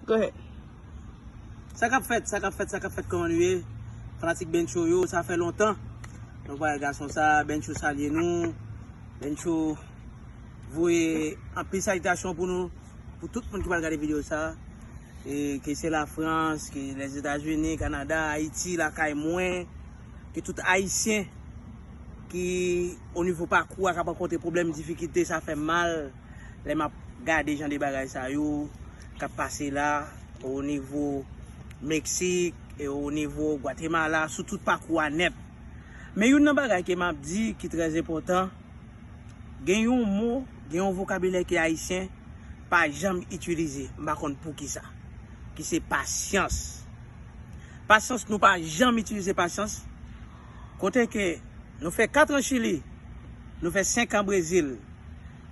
Go ahead. Sa kap fèt sa kap fèt sa kap fèt kòman nou ye fanatik bencho yo sa fè lontan nou pa wè gason sa bencho salye nou bencho voye anpil salitasyon pou nou pou tout moun ki pral gade video sa e ke se la frans ke lèzetazini kanada ayiti lakay mwen ke tout ayisyen ki onivo pakou a kap rankontre pwoblèm difikite sa fèm mal. lè map gade jan de bagay sa yo kap pase la o nivo Meksik e o nivo Gwatemala sou tout pakou a nèt. Men youn nan bagay ke map di ki trè enpòtan, gen yon mo, gen yon vokabilè ke Ayisyen pa janm itilize, m pa konn poukisa, ki se pasyans. Pasyans, nou pa janm itilize pasyans. Kote ke nou fè 4 an Chili, nou fè 5 an Brezil,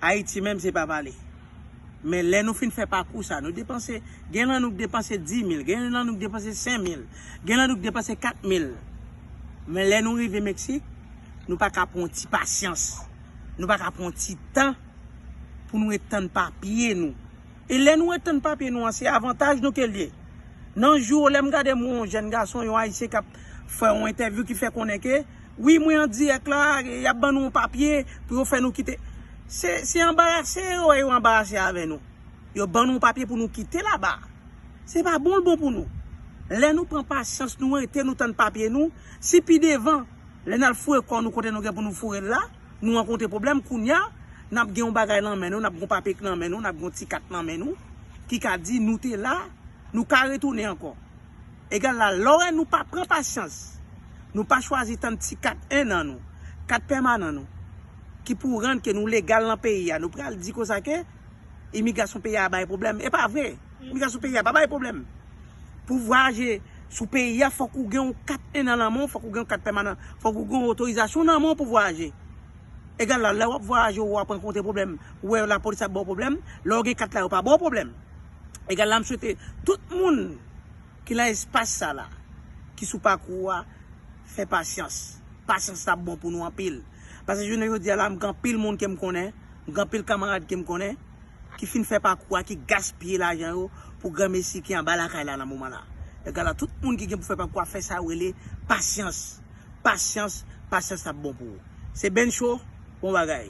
Ayiti menm se pa pale. Men lè nou fin fè pakou sa, nou depanse, gen lan nou k depanse 10 mil, gen lan nou k depanse 5 mil, gen lan nou k depanse 4 mil. Men lè nou rive Meksik, nou pa ka pran yon ti pasyans, nou pa ka pran yon ti tan pou nou ret tann papye nou. E lè nou ret tann papye nou an se avantaj nou ke l ye. Nan jou yo lè m gade m wè yon jèn gason, yon Ayisyen k ap fè yon entèvyou ki fè konnen ke, wi mwen an dirèk la, y ap ban nou yon papye pou yo fè nou kite. Se se anbarase yo wè yo anbarase avè nou. Yo ban nou yon papye pou nou kite laba. Se pa bon l bon pou nou. Lè nou pran pasyans nou rete nou tann papye nou, si pi devan lè n al foure kò nou kote nou gen pou nou foure l la, Nou rankontre pwoblèm kounya nap gen yon bagay nan men nou, nap gen yon papye nan men nou, nap gen yon ti kat nan men nou ki ka di nou te la, nou ka retounen ankò. Egal la lòè nou pa pran pasyans, nou pa chwazi tann ti kat 1 an nou, kat pèmanan nou ki pou rann ke nou legal nan peyi a, nou pral di konsa ke. Imigrasyon peyi a bay pwoblèm. E pa vre. Imigrasyon peyi a pa bay pwoblèm. Pou vwayaje sou peyi a, fòk ou gen yon kat 1 an nan men w, fòk ou gen yon kat pèmanan, fòk ou gen yon otorizasyon nan men w pou vwayaje. Egal la, lè w ap vwayaje ou ap rankontre pwoblèm, ou wè lapolis ap ba w pwoblèm, lè w gen kat la yo pa ba w pwoblèm. Egal la, m swete tout moun ki nan espas sa la, ki sou pakou a, fè pasyans. Pasyans la bon pou nou anpil. Paske jounen jodi a la, m gen anpil moun ke m konnen. Gen anpil kamarad ke m konnen ki fin fè pakou a, ki gaspiye lajan yo pou granmesi ki anba lakay la nan moman la. Egala tout moun ki gen pou fè pakou a fè sa yo rele pasyans. Pasyans, pasyans ap bon pou ou. Se Bencho, bon bagay.